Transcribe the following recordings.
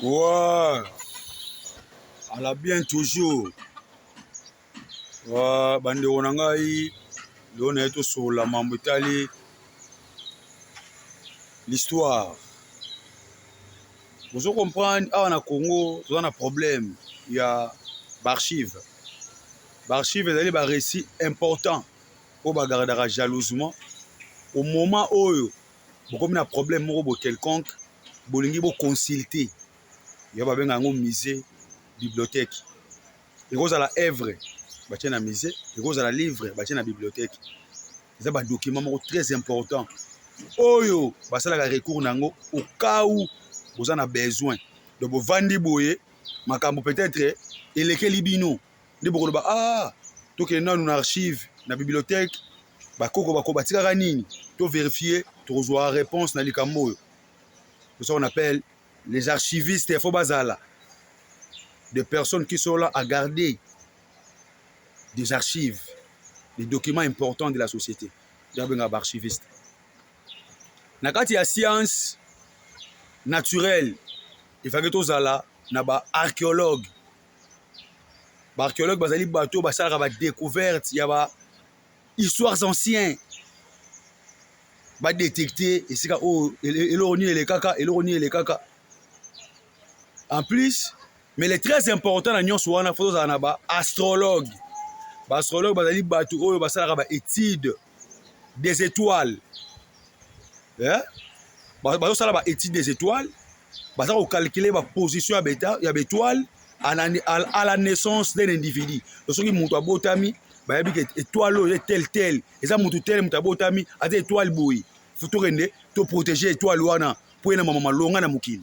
Ouais. À la bien toujours. Ouais, bandeko na ngai leo naye tosolola mambo etali l'histoire bozo comprendre awa na congo toza na problème ya baarchive baarchive ezali barécit important oyo bagardaka jalousement au moment oyo bokomi na problème moko bo quelconque bolingi bo consulter ya babenga yango musée bibliothèque ekozala œuvre batie na musée ekozala livre batie na bibliothèque eza badocument moko très important oyo basalaka recours na yango au cas où boza na besoin donc bovandi boye makambo peut-être elekeli bino nde bokoloba ah tokende nanu na archive na bibliothèque bakoko bako batikaka nini to verifie tokozwa réponse na likambo oyo ça on appelle les archivistes il faut bazala des personnes qui sont là à garder des archives des documents importants de la société nde babengaka baarchiviste na kati ya science naturelle efaki tozala na baarchéologue ba archéologue bazali bato basalaka ba découverte ya ba histoires anciens ba détecter esika oyo eloko nini elekaka eloko nini elekaka en plus mais le très important na nyonso wana fo tozala na ba astrologue ba astrologue bazali bato oyo basalaka ba étude des étoiles eh? bazosala ba étude des étoiles baza kocalcule baposition ya baétoile à la naissance d'un individu to soki moto abotami bayebi ke étoile oyo ye tel tel eza moto tel moto abotami aza étoile boye fo tokende toprotege étoile wana mpo ye na mama malonga na mokili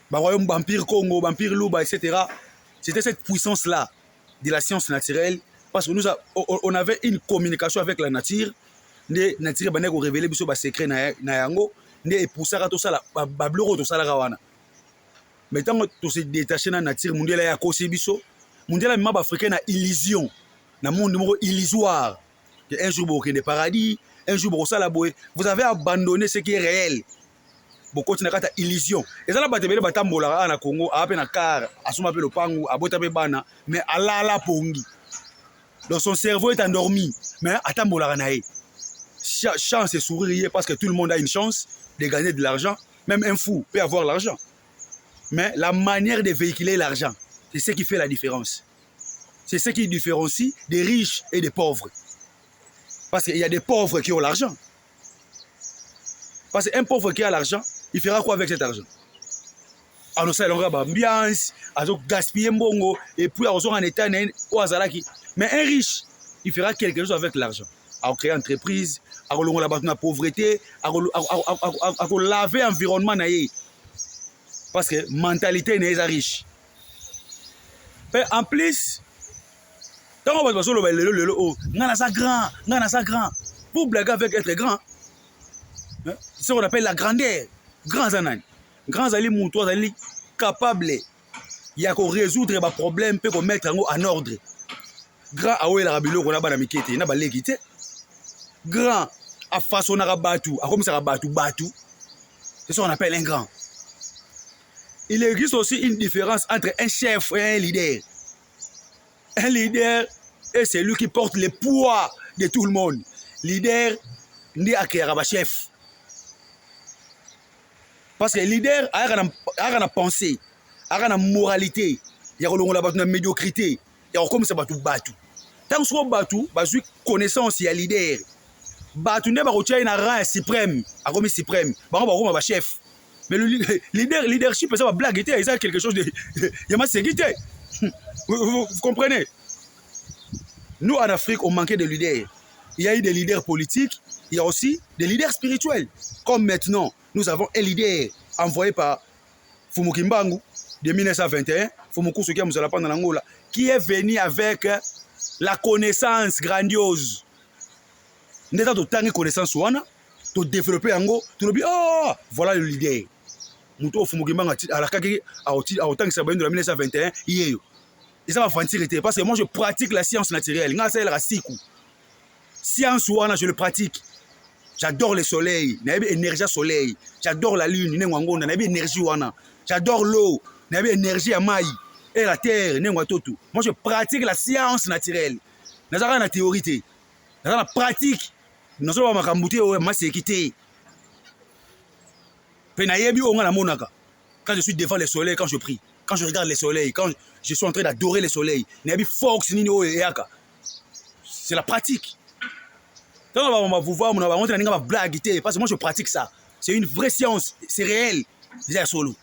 ba royaume ba empire Congo, ba empire Luba etc. C'était cette puissance là de la science naturelle parce que nous a, on avait une communication avec la nature nde nature ebandaki korevele biso basecret na yango nde epusaka tosala babiloko oyo tosalaka wana mais ntango tose detache na nature mondiala ya akosi biso mondiala mema baafricain na illusion na monde moko illusoire que un jour bokokende paradis un jour bokosala boye vous avez abandonné ce qui est réel bokoti na kati ya illusion eza na bato ebele batambolaka awa na congo aa mpe na car asomba mpe lopangu abota mpe bana mais alala pongi donc son cerveau est endormi mais atambolaka na ye chance et sourire ye parce que tout le monde a une chance de gagner de l'argent même un fou peut avoir l'argent mais la manière de véhiculer l'argent c'est ce qui fait la différence c'est ce qui différencie des riches et des pauvres parce qu'il y a des pauvres qui ont l'argent Parce qu'un pauvre qui a l'argent, il fera quoi avec cet argent anosala elongo ya baambiance azogaspille mbongo epuis akozonga na etat na ye oyo azalaki mais un riche il fera quelque chose avec l'argent akocree entreprise akolongola bato na pauvreté akolave environnement na ye parce que mentalité na ye eza riche mpe en plus ntango bato bazoloba lelo lelo oyo oh, ngai naza grand ngai naza grand pour blague avec être grand hein? ce qu'on appelle la grandeur grand aza nani grand azali moto azali capable ya korésoudre baproblème mpe komettre yango en ordre grand awelaka biloko na bana mike te na baleki te grand afasonaka bato akomisaka bato bato c'est ce qu'on appelle un grand il existe aussi une différence entre un chef et un leader Un leader est celui qui porte le poids de tout le monde. Leader nde akeyaka ba chef. Parce que leader ayaka na ayaka na pensée, ayaka na moralité ya kolongola bato na médiocrité, ya kokomisa bato bato. Ntango soko bato bazwi connaissance ya leader, bato nde bakotia ye na rang ya suprême, akomi suprême, bango bakokoma ba chef. mais le leader leadership eza ba blague te eza quelque chose de ya masengi te vous comprenez nous en Afrique on manquait de leaders il y a eu des leaders politiques il y a aussi des leaders spirituels comme maintenant nous avons un leader envoyé par Fumu Kimbangu de 1921 Fumu Kusuki Muzala pendant l'Angola qui est venu avec la connaissance grandiose nde eza totangi connaissance wana to développer yango tolobi oh voilà le leader moto oyo fumuki mbanga alakaki akotangisa bayindo na 1921 yeyo eza bavantire te parce que moi je pratique la science naturelle ngai asalelaka siku science wana je le pratique j'adore le soleil nayebi énergie ya soleil j'adore la lune nengo ya ngonda nayebi énergie wana j'adore l'eau nayebi énergie ya mai et la terre nengo ya totu moi je pratique la science naturelle nazalaka na théorie te naza na pratique nazoloba makambo te oyo maseki te mpe nayebi oyo ngai namonaka quand je suis devant le soleil quand je prie quand je regarde le soleil quand je suis en train d'adorer le soleil nayebi force nini oyo eyaka c'est la pratique ntango bango bavuva mona bango te naninga bablague te parce que moi je pratique ça c'est une vraie science c'est réel eza ya solo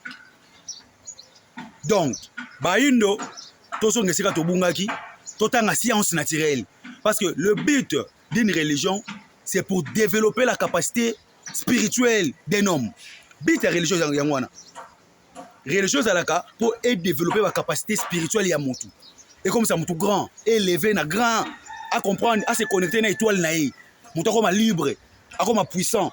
donc bayindo tozonga esika tobungaki totanga science naturelle parce que le but d'une religion c'est pour développer la capacité spirituelle d'un homme but ya religion yango wana religion ezalaka mpo edévelopper bacapacité spirituelle ya motu ekomisa motu grand eleve na grand acomprendre ase connecte na étoile na ye motu akoma libre akoma puissant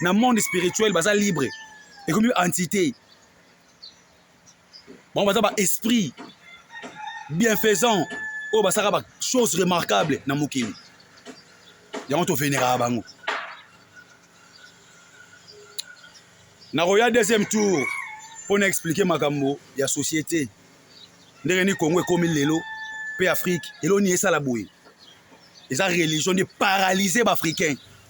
na monde spirituel baza libre ekomi entité bango baza ba esprit bienfaisant oyo basaka ba chose remarquable na mokili yango toveneraka bango nakoya deuxième tour mpo na explike makambo ya société ndenge ni congo ekomi lelo mpe afrique eloni esala boye eza religion nde paralyse baafricain